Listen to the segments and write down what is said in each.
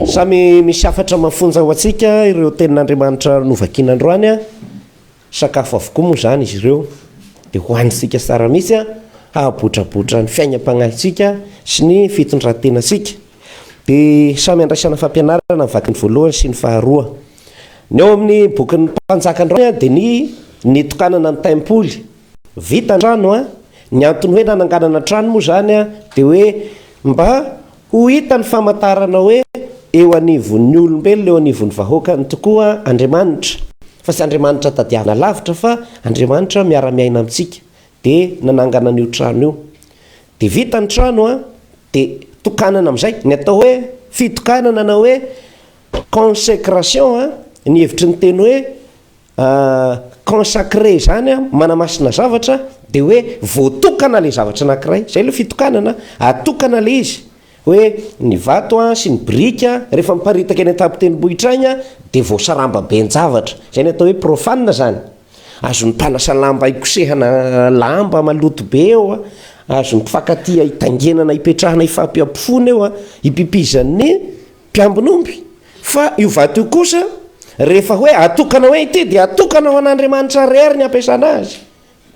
Samy misy hafatra mafonja ho antsika ireo tenin'Andriamanitra novakiana androany. Sakafo avokoa moa izany izy ireo, dia hohanintsika tsara mihitsy hahabotrabotra ny fiainam-pagnahintsika sy ny fitondran-tenantsika. Dia samy andraisana fampianarana ny vakiny voalohany sy ny faharoa. Ny ao amin'ny bokin'ny Mpanjaka androany dia ny nitokanana ny taimpoly Vita an-trano an! Ny antony hoe nananganana trano moa izany an, dia hoe mba ho hita ny famantarana hoe eo anivon'ny olombelona, eo anivon'ny vahoakany tokoa Andriamanitra, fa tsy Andriamanitra tadiavina lavitra fa Andriamanitra miara-miaina amintsika, dia nanangana an'io trano io. Dia vita ny trano an, dia tokanana amin'izay, ny atao hoe fitokanana na hoe consécration an, ny hevitry ny teny hoe Consacrer zany a, manamasina zavatra, de hoe voatokana le zavatra anakiray, zay le fitokanana, atokana le izy, hoe ny vato a sy ny biriky a, rehefa miparitaka eny an-tampon-tendrombohitra agny a de voasaramba ben-javatra, zay ny atao hoe profane zany, azon'ny mpanasa lamba hikosehana lamba maloto be eo a, azon'ny mpifankatia hitaingenana hipetrahana hifampihampifona eo a, hipipizan'ny Mpiambin'omby, fa io vato io kosa, rehefa hoe atokana hoe ity dia atokana ho an'Andriamanitra rery ny hampiasana azy,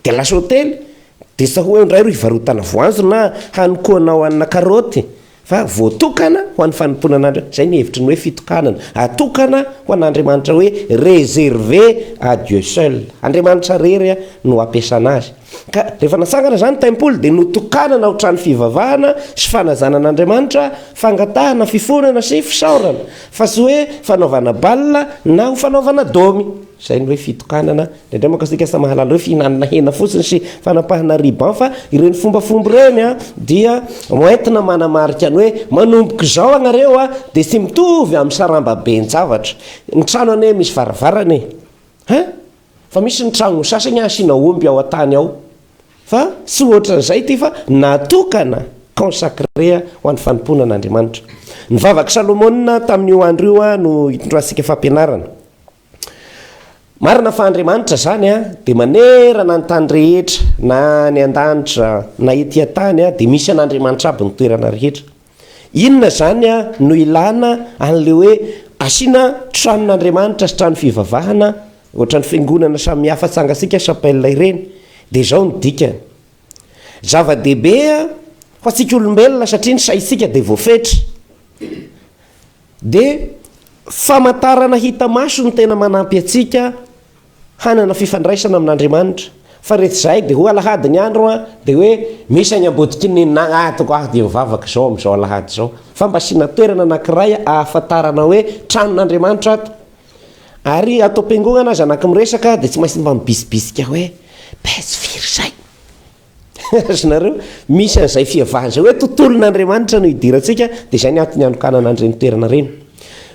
dia lasa hotely, dia sa hoe indray ro hivarotana voanjo na hanokoanao hanina karaoty, fa voatokana ho an'ny fanompoana an'Andriamanitra, izay ny hevitry ny hoe fitokanana, atokana ho an'Andriamanitra hoe réservé à Dieu seul, Andriamanitra rery no hampiasana azy. Ka rehefa natsangana izany ny Tempoly dia notokanana ho trano fivavahana sy fanajana an'Andriamanitra, fangatahana, fifonana sy fisaorana, fa tsy hoe fanaovana bal na ho fanaovana domy. Izay ny hoe fitokanana. Indraindray manko isika samy mahalala hoe fihinanana hena fotsiny sy fanapahana riban fa ireny fombafomba ireny dia hoentina manamarika ny hoe manomboka izao ianareo dia tsy mitovy amin'ny sarambaben-javatra. Ny trano anie misy varavarana e! Hein? Fa misy ny tragno sasany asiana omby ao an-tany ao fa tsy ohatran'izay ity fa natokana, consacré, ho an'ny fanompoana an'Andriamanitra. Ny vavak'i Salomona tamin'io andro io no itondrantsika fampianarana. Marina fa Andriamanitra izany dia manerana ny tany rehetra, na any an-danitra na ety an-tany dia misy an'Andriamanitra aby ny toerana rehetra. Inona izany no ilana an'ilay hoe asiana tranon'Andriamanitra sy trano fivavahana ohatran'ny fiangonana samihafa tsangatsika, chapelle, ireny? Dia izao ny dikany, Zava-dehibe ho antsika olombelona satria ny saintsika dia voafetra, dia famantarana hita maso no tena manampy antsika, hanana fifandraisana amin'Andriamanitra, fa rehefa izahay dia ho alahady ny andro an, dia hoe misy any am-bodiky ny nagnatiko aho dia mivavaka izao amin'izao alahady izao, fa mba asiana toerana anankiray ahafantarana hoe tranon'Andriamanitra ato, ary ato am-piangonana aza na koa miresaka dia tsy maintsy mba mibisibisika hoe page firy izay? Ry nareo, misy an'izay fihavahan' izay hoe tontolon' Andriamanitra no idirantsika, dia izay ny antony hanokanana an'ireny toerana ireny.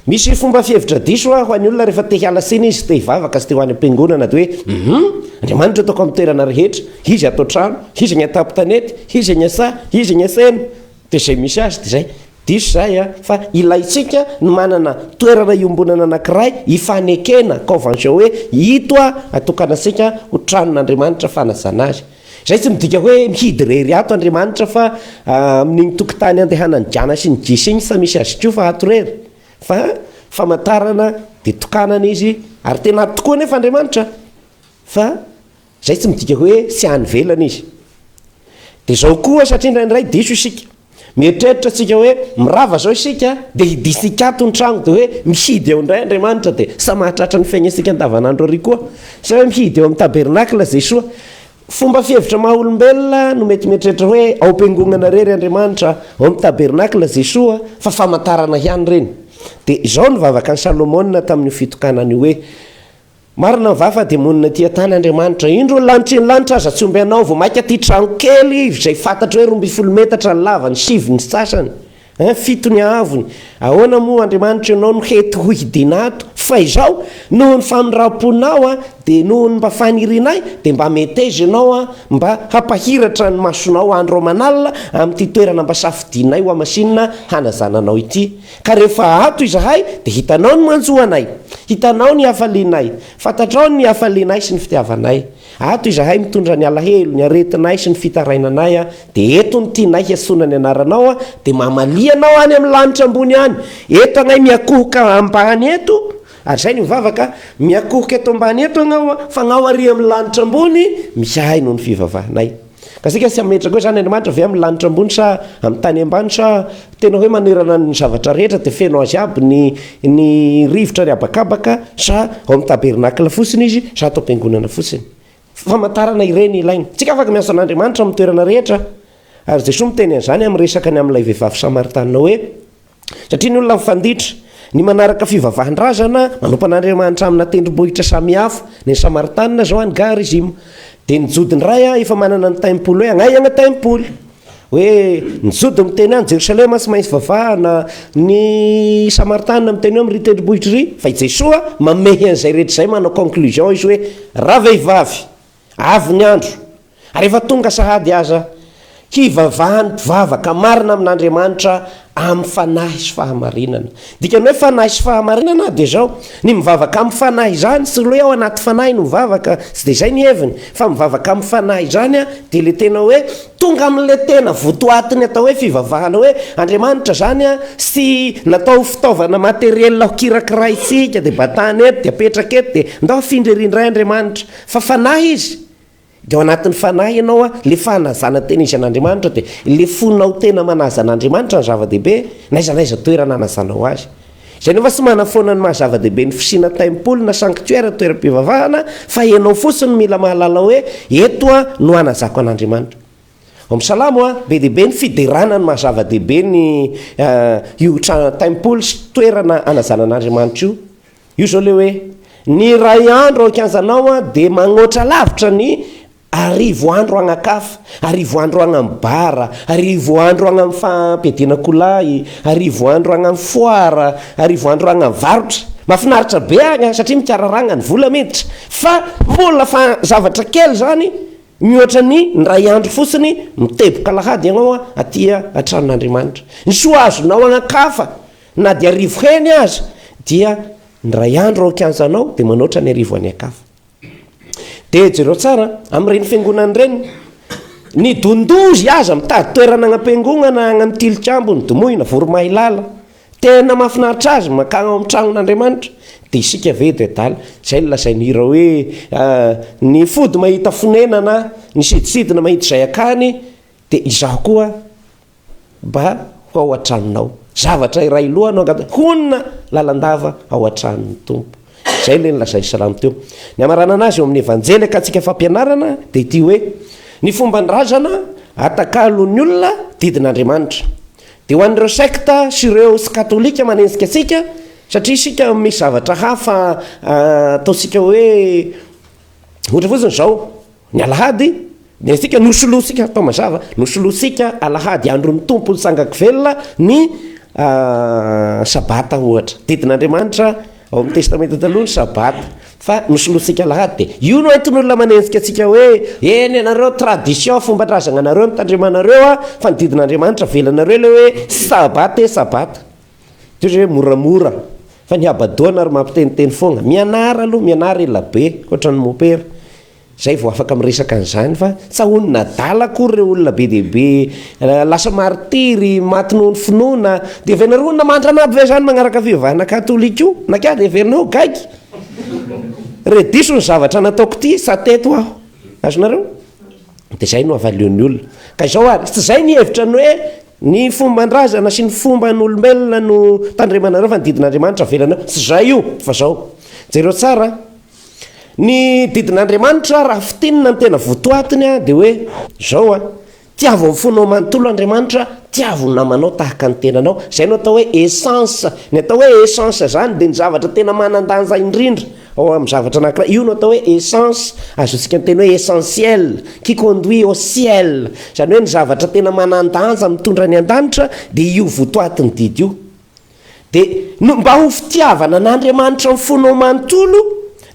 Misy fomba fihevitra diso ho an'ny olona rehefa te hiala siny izy, te hivavaka sy te ho any am-piangonana dia hoe, Hum! Andriamanitra ataoko amin'ny toerana rehetra, Izy ato an-trano, Izy any an-tampon-tanety, Izy any an-saha, Izy any an-saina. Dia izay misy azy dia izay. Diso izahay an! Fa ilaintsika ny manana toerana iombonana anankiray ifanekena, convention, hoe ito an, atokanantsika ho tranon'Andriamanitra fanajana azy. Izay tsy midika hoe mihidy irery ato Andriamanitra fa amin'iny tokotany andehanan'i Jana sy ny Jisy iny tsy misy azy koa fa ato irery. Fa famantarana dia tokanana izy ary tena ato tokoa anefa Andriamanitra fa Izay tsy midika hoe tsy any ivelany izy. Dia izao koa, satria indraindray diso isika. Mieritreritra isika hoe mirava izao isika, dia hidintsika ato ny trano, dia hoe mihidy eo indray Andriamanitra, dia samy mahatratra ny fiainantsika andavanandro ary koa. Sa hoe mihidy eo amin'ny tabernakla Jesoa. Fomba fihevitra maha-olombelona no mety mieritreritra hoe ao am-piangonana irery Andriamanitra, ao amin'ny tabernakla Jesoa, fa famantarana ihany ireny. Dia izao no vavaka an'i Salomona tamin'io fitokanana io hoe. Marina va fa demonina tia tany Andriamanitra? Indro ny lanitry ny lanitra aza tsy omby anao vao maika tia trano kely izay fantatra hoe roa ambin'ny folo metatra ny lavany, sivy ny sasany, hein, fito ny haavony. Ahoana moa Andriamanitra ianao no hety ho hidiana ato? Fa izao, noho ny famindram-ponao an, dia noho ny mba fanirianay, dia mba meteza ianao an, mba hampahiratra ny masonao andro aman'alina amin'ity toerana mba safidianay hohamasinina hanazananao ity. Ka rehefa ato izahay dia hitanao ny manjoanay, hitanao ny hafalianay, fantatrao ny hafalianay sy ny fitiavanay. Ato izahay mitondra ny alahelo, ny aretinay sy ny fitarainanay, dia eto ny tianay hiantsoana ny anaranao, dia mamalia anao any amin'ny lanitra ambony any. Eto agnay miakohoka ambany eto, ary izay ny mivavaka, miakohoka eto ambany eto agnao, fa agnao ary amin'ny lanitra ambony, misy ahy noho ny fivavahanay. Ka isika tsy hametraka hoe izany Andriamanitra ve amin'ny lanitra ambony sa amin'ny tany ambany sa tena hoe manerana ny zavatra rehetra dia feno azy aby ny ny rivotra ny habakabaka sa ao amin'ny tabernacle fotsiny izy sa ato am-piangonana fotsiny. Famantarana ireny ilaina. Tsy ka afaka miasa an'Andriamanitra amin'ny toerana rehetra ary Jesoa miteny an'izany amin'ny resaka ny amin'ilay vehivavy Samaritana hoe Satria ny olona mifanditra, ny manaraka fivavahan-drazana manompana Andriamanitra amina tendrombohitra samihafa, ny Samaritanina izao any Ga rizima, dia ny Jody indray an, efa manana ny taimpoly hoe agnaiagna taimpoly, hoe ny Jody miteny any Jerosalema tsy maintsy vavahana, ny Samaritanina miteny hoe amin'irỳ tendrombohitra irỳ, fa i Jesoa mamehy an'izay rehetra izay manao conclusion izy hoe ravehivavy, Avy ny andro, ary efa tonga sahady aza, hivavahan'ny mpivavaka marina amin'Andriamanitra amin'ny fanahy sy fahamarinana. Ny dikan'ny hoe fanahy sy fahamarinana dia izao, ny mivavaka amin'ny fanahy izany, tsy ilay hoe ao anaty fanahy no mivavaka, tsy dia izay ny heviny, fa mivavaka amin'ny fanahy izany dia ilay tena hoe tonga amin'ilay tena votoatin'ny atao hoe fivavahana hoe Andriamanitra izany sy natao ho fitaovana materiel hokirakiraintsika, dia batana eto, dia apetraka eto, dia ndao afindra ery indray Andriamanitra. Fa fanahy izy, dia ao anatin'ny fanahy ianao an, ilay fanazana tena izy an'Andriamanitra, dia ilay fonao tena manaza an'Andriamanitra no zava-dehibe, n'aiza n'aiza toerana anazanao Azy. Izay nefa tsy manafoana ny maha-zava-dehibe ny fisiana tempoly na sanctuaire, toeram-pivavahana, fa ianao fotsiny no mila mahalala hoe, eto an no anazako an'Andriamanitra. Ao amin'ny Salamo an, be dia be ny fiderana ny maha-zava-dehibe ny io trano, tempoly sy toerana anazana an'Andriamanitra io. Io zao le hoe ny iray andro ao an-kianjanao an dia magnoatra lavitra ny arivo andro agnakafa, arivo andro agny amin'ny bar, arivo andro agny amin'ny fampiadiana kolahy, arivo andro agny amin'ny foara, arivo andro agny amin'ny varotra. Mafinaritra be agny an satria mikararagna ny vola miditra fa mbola fa zavatra kely zany mihoatra ny indray andro fotsiny miteboka alahady agnao aty an-tranon'Andriamanitra. Ny soa azonao agnakafa. Na dia arivo heny aza, dia ny iray andro ao an-kianjanao, dia manoatra ny arivo any an-kafa. Dia jereo tsara amin'ireny fiangonana ireny, ny don-dozy aza mitady toerana agnam-piangonana agny amin'ny Tilikambo, ny Domoina, Voromahilala. Tena mahafinaritra azy ny mankagny ao amin'ny tragnon'Andriamanitra. Dia isika ve dia adala? Izay no lazain'ny hira hoe, Ny fody mahita fonenana, ny sidintsidina mahita izay akany, dia izaho koa. mba ho ao an-tranonao. Zavatra iray loha no angatahin'ny. Honina lalandava ao an-tranon'ny Tompo. Izay ilay nolazain'i Salamo teo. Ny hamaranana azy eo amin'ny Evanjely akantsika fampianarana dia ity hoe, Ny fomba ny razana atakalon'ny olona didin'Andriamanitra. Dia ho an'ireo sekta sy ireo tsy katolika manenjika antsika satria isika misy zavatra hafa ataontsika hoe ohatra fotsiny izao, Ny Alahady dia isika nosolointsika, atao mazava, nosolointsika Alahady, andron'ny Tompo nitsangako velona, ny Sabata ohatra. Didin'Andriamanitra ao amin'ny Testamenta Taloha ny Sabata, fa nosolointsika Alahady. Dia io no entin'olona manenjika antsika hoe, eny ianareo tradition, fomban-drazananareo no tandremanareo fa ny didin'Andriamanitra avelanareo ilay hoe Sabata e Sabata. Toy izay hoe moramora fa ny habadoana ary mampiteniteny foagna. Mianara aloha, mianara elabe, ohatran'ny mopera. Izay vao afaka miresaka an'izany fa tsy ahonin'ny adala akory ireo olona be dia be lasa maritiry, maty noho ny finoana. Dia avy anareo olona mandrana aby ve izany magnaraka fivavahana katolika io? Na kay dia heverinao ho gaigy? Re diso ny zavatra nataoko ity sa teto aho? Azonareo? Dia izay no avalion'ny olona. Ka izao ary, tsy izay ny hevitra ny hoe Ny fombandrazana sy ny fomban'olombelona no tandremanareo fa ny didin'Andriamanitra avelanareo tsy zay io fa zao. Jereo tsara an! Ny didin'Andriamanitra raha fintinina ny tena votoatiny an dia hoe zao an, tiavo amin'ny fonao manontolo Andriamanitra, tiavo ny namanao tahaka ny tenanao, zay no atao hoe essence, ny atao hoe essence zany dia ny zavatra tena manan-danja indrindra, Ao amin'ny zavatra anankiray, io no atao hoe essence, azontsika miteny hoe essentiel, qui conduit au ciel, izany hoe ny zavatra tena manan-danja mitondra any an-danitra dia io votoatin'ny didy io. Dia no, mba ho fitiavana an'Andriamanitra amin'ny fonao manontolo,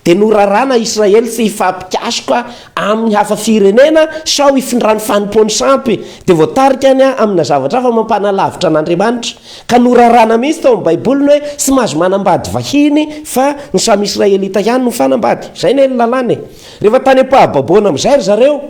dia norarana Israely tsy hifampikasoka amin'ny hafa firenena sao hifindran'ny fanompoany sampy, dia voatarika any amina zavatra hafa mampanalavitra an'Andriamanitra. Ka noraràna mihitsy tao amin'ny Baiboly ny hoe tsy mahazo manambady vahiny fa ny samy Israelita ihany no fanambady. Izay anie ny lalàna e! Rehefa tany am-pahababoana amin'izay ry zareo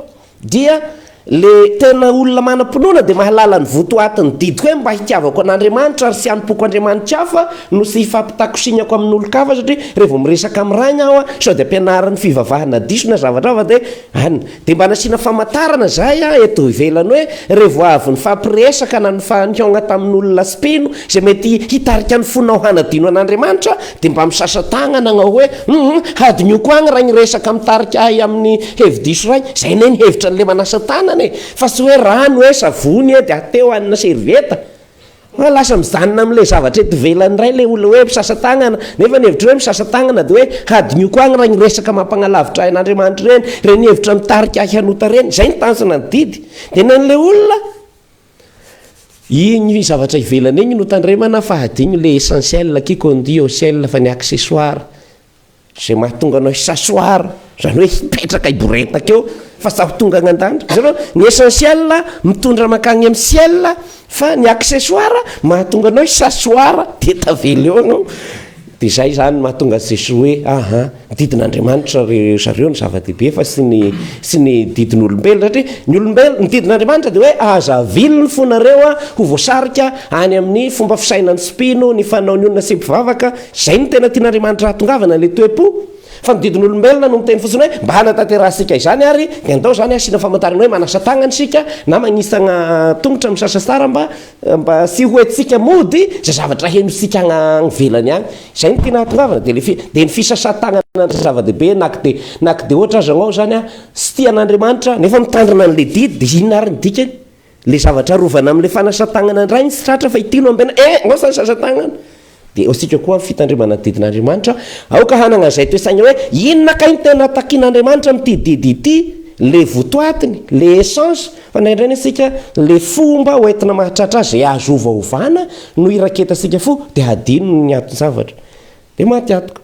dia ilay tena olona manam-pinoana dia mahalala ny votoatin'ny didiko hoe mba hitiavako an'Andriamanitra ary tsy hanompoako andriamani-kafa no tsy hifampitakosignako amin'olon-kafa satria raha vao miresaka amin'ny rainy aho sao dia ampianarin'ny fivavahana diso na zava-draha fa dia An, dia mba nasiana famantarana izahay an eto ivelany hoe revo avy nifampiresaka na nifanihaogna tamin olona tsy mpino izay mety hitarika ny fonao hanadino an Andriamanitra dia mba misasa tagnana agnao hoe humm hadinioko agny raha ny resaka mitarika ahy amin ny hevidiso iray, izay anie ny hevitra ny le manasa tagnana e, fa tsy hoe rano e, savony e, dia ateo an servieta. Fa lasa mijanona amin'ilay zavatra eto ivelany indray ilay olona hoe misasa-tanana, nefa ny hevitro hoe misasa-tanana dia hoe hadinoko agny raha igny resaka mampagnalavitra ahy an'Andriamanitra ireny, ireny hevitra mitarika ahy hanota ireny, izay ny tanjona ny didy, dia ny an'ilay olona igny zavatra ivelany igny no tandremana fa hadino ilay essentiel, qui conduit au ciel, fa ny accessoire. Izay mahatonga anao hisasoar, izany hoe hipetraka hiboretaka eo fa tsy ho tonga any an-danitra. Hitanao, ny essentiel mitondra mankany amin'ny ciel fa ny accessoire mahatonga anao hisasoar dia tavela eo ianao. Dia izay izany no mahatonga an'i Jesoa hoe, aha, ny didin'Andriamanitra ry zareo no zava-dehibe fa tsy ny tsy ny didin'olombelona. Satria ny olombelona, ny didin'Andriamanitra dia hoe aza avilony fo nareo ho voasarika any amin'ny fomba fisainan'ny tsy mpino, ny fanaon'ny olona tsy mpivavaka, Izay no tena tian'Andriamanitra hahatongavana ilay toe-po, fa ny didin'olombelona no miteny fotsiny hoe mba hanatanterahasika izany ary dia andao izany hasiana famantarana hoe manasa tagnana isika na magnitsagna tongotra misasa sara mba mba tsy ho entintsika mody izay zavatra henontsika agny agny ivelany agny izay no tiana hahatongavana dia ilay dia ny fisasan-tagnana no zava-dehibe na ko dia na ko dia ohatra aza anao izany tsy tia an'Andriamanitra nefa mitandrina an'ilay didy dia inona ary ny dikany? Ilay zavatra arovana amin'ilay fanasan-tanana indray ny tsy tratra fa ity no ampiana, eh! Aosa ny sasan-tanana! Dia aosika koa amin'ny fitandremana ny didin'Andriamanitra, aoka hanana izay toesaina hoe, inona kay ny tena takin'Andriamanitra amin'ity didy ity? Ilay votoatiny, ilay essence, fa indraindray ny antsika ilay fomba hoentina mahatratra azy izay azo ovaovana no iraketantsika fo dia hadino ny anton-javatra. Dia maty antoka.